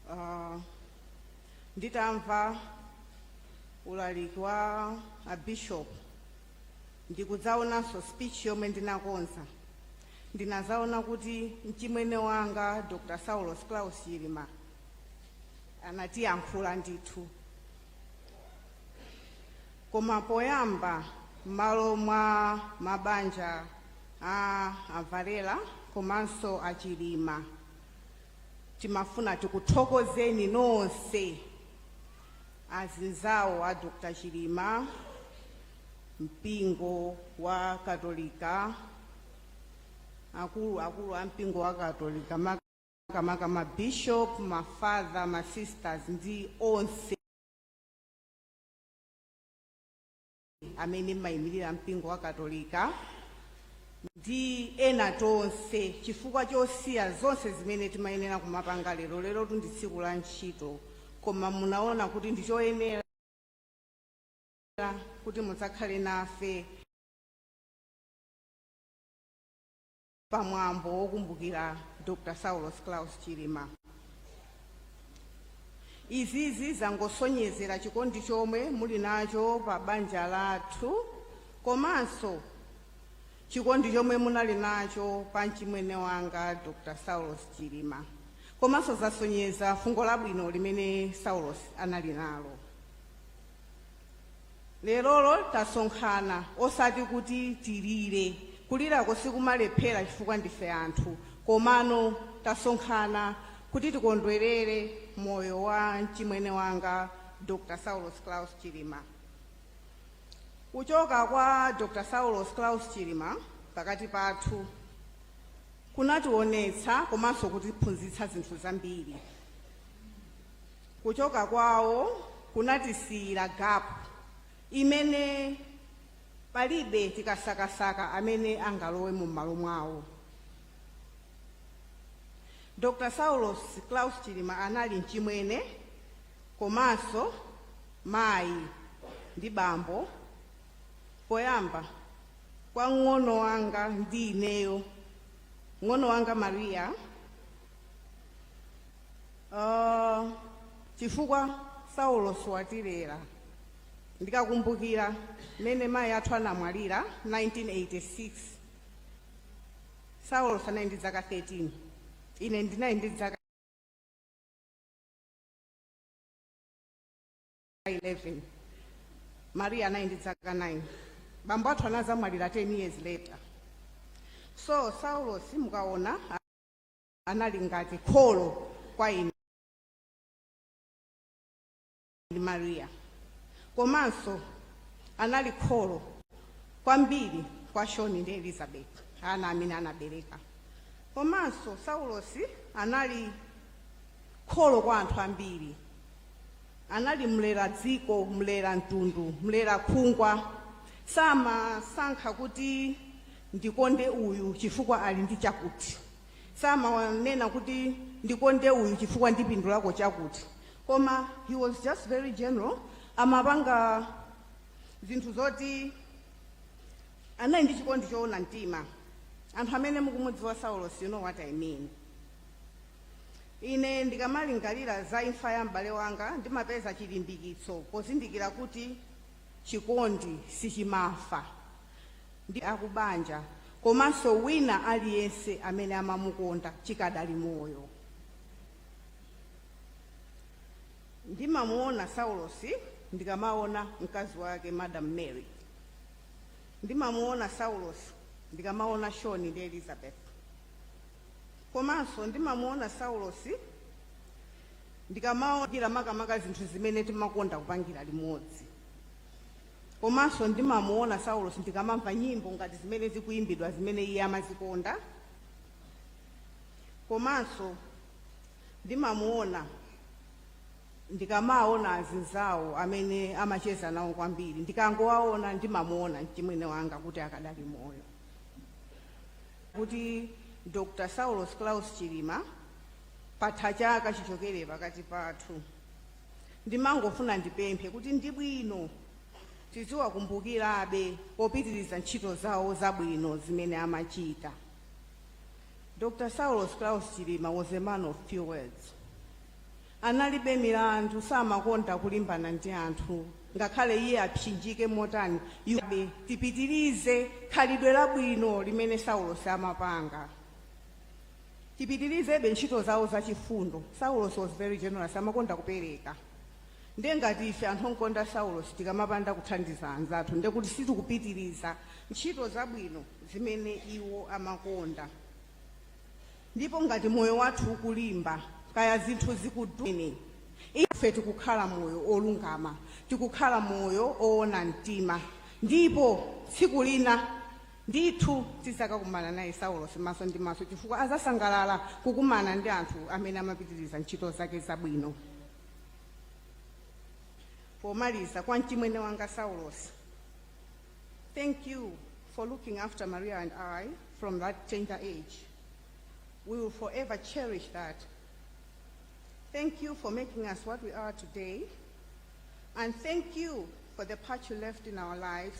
Ah, nditamva ulaliki wa abishop ndikuzaonanso speech yomwe ndinakonza ndinazaona kuti mchimwene wanga dr saulos claus chilima anatiyankhula ndithu koma poyamba m'malo mwa mabanja a a Valera komanso a Chilima Timafuna tikuthokozeni nonse azinzawo a Dr Chilima, mpingo wa Katolika, akuluakulu a mpingo wa Katolika makamaka ma bishop, ma father, ma sisters ndi onse amene mmayimirira mpingo wa katolika ndi ena tonse chifukwa chosiya zonse zimene timayenera kumapanga lero lerotu ndi tsiku la ntchito koma munaona kuti ndichoyenera kuti mudzakhale nafe pa mwambo wokumbukira dr saulos claus chilima izizi zangosonyezera chikondi chomwe muli nacho pa banja lathu komanso chikondi chomwe munali nacho pa mchimwene wanga dr saulos chilima komanso zasonyeza fungo labwino limene saulos anali nalo Lerolo tasonkhana osati kuti tilire. Kulirako sikumalephera chifukwa ndife anthu. Komano tasonkhana kuti tikondwerere moyo wa mchimwene wanga Dr. Saulos Klaus Chilima. Kuchoka kwa Dr. Saulos Klaus Chilima pakati pathu kunationetsa komanso kutiphunzitsa zinthu zambiri. Kuchoka kwawo kunatisiyira gap imene palibe tikasakasaka amene angalowe m'malo mwawo. Dr Saulos Klaus Chilima anali mchimwene komanso mayi ndi bambo poyamba kwa mng'ono wanga ndi ineyo, mng'ono wanga Maria, Ah, chifukwa saulos watilera ndikakumbukira mmene mayi athu anamwalira 1986 saulos anali ndi dzaka 13 ine ndinali ndi dzaka 11 maria anali ndi dzaka 9 bambo athu anazamwalira 10 years later so saulos mukaona anali ngati kholo kwa ine ndi Maria. Komanso anali kholo kwambiri kwa Sean ndi Elizabeth, ana amene anabereka. Komanso Saulosi anali kholo kwa anthu ambiri. Anali mlera dziko, mlera mtundu, mlera khungwa. Samasankha kuti ndikonde uyu chifukwa ali ndi chakuti. samanena kuti ndikonde uyu chifukwa ndipindulako chakuti koma he was just very generous amapanga zinthu zoti anali ndi chikondi choona mtima anthu amene mukumudziwa saulos you know what i mean ine ndikamalingalira za imfa ya m'bale wanga ndimapeza chilimbikitso pozindikira kuti chikondi sichimafa ndi akubanja komanso wina aliyense amene amamukonda chikadali moyo. Ndimamuona Saulosi ndikamaona mkazi wake Madam Mary. Ndimamuona Saulosi ndikamaona Sean ndi Elizabeth. Komanso ndimamuona Saulosi ndikamaona makamaka zinthu zimene timakonda kupangira limodzi. komanso ndimamuona saulos ndikamamva nyimbo ngati zimene zikuyimbidwa zimene iye amazikonda komanso ndimamuona ndikamaona azinzawo amene amacheza nawo kwambiri ndikangowaona ndimamuona mchimwene wanga kuti akadali moyo kuti dr saulos klaus chilima patha chaka chichokere pakati pathu ndimangofuna ndipemphe kuti ndi bwino tiziwakumbukirabe popitiriza ntchito zawo zabwino zimene amachita dr saulos klaus chilima was a man of few words analibe milandu samakonda kulimbana ndi anthu ngakhale iye apsinjike motani ife tipitirize khalidwe labwino limene saulos amapanga tipitirizebe ntchito zawo zachifundo saulos was very generous amakonda kupereka nde ngati ife anthu onkonda saulosi tikamapanda kuthandiza anzathu nde kuti sitikupitiriza ntchito zabwino zimene iwo amakonda ndipo ngati moyo wathu ukulimba kaya zinthu zikudwini ife tikukhala moyo olungama tikukhala moyo owona mtima ndipo tsiku lina Ndithu tidzakakumana naye Saulos maso ndi maso chifukwa adzasangalala kukumana ndi anthu amene amapitiriza ntchito zake zabwino. Pomaliza, kwa mchimwene wanga Saulos, thank you for looking after Maria and I from that tender age. We will forever cherish that. Thank you for making us what we are today. And thank you for the part you left in our lives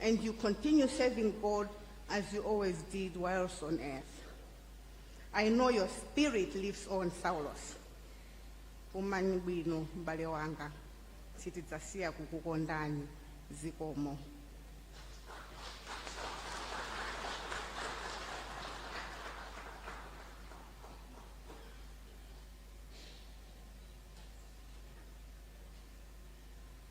and you continue serving God as you always did whilst on earth. I know your spirit lives on, Saulos. Umanyi bwino mbale wanga sitidzasiya kukukondani zikomo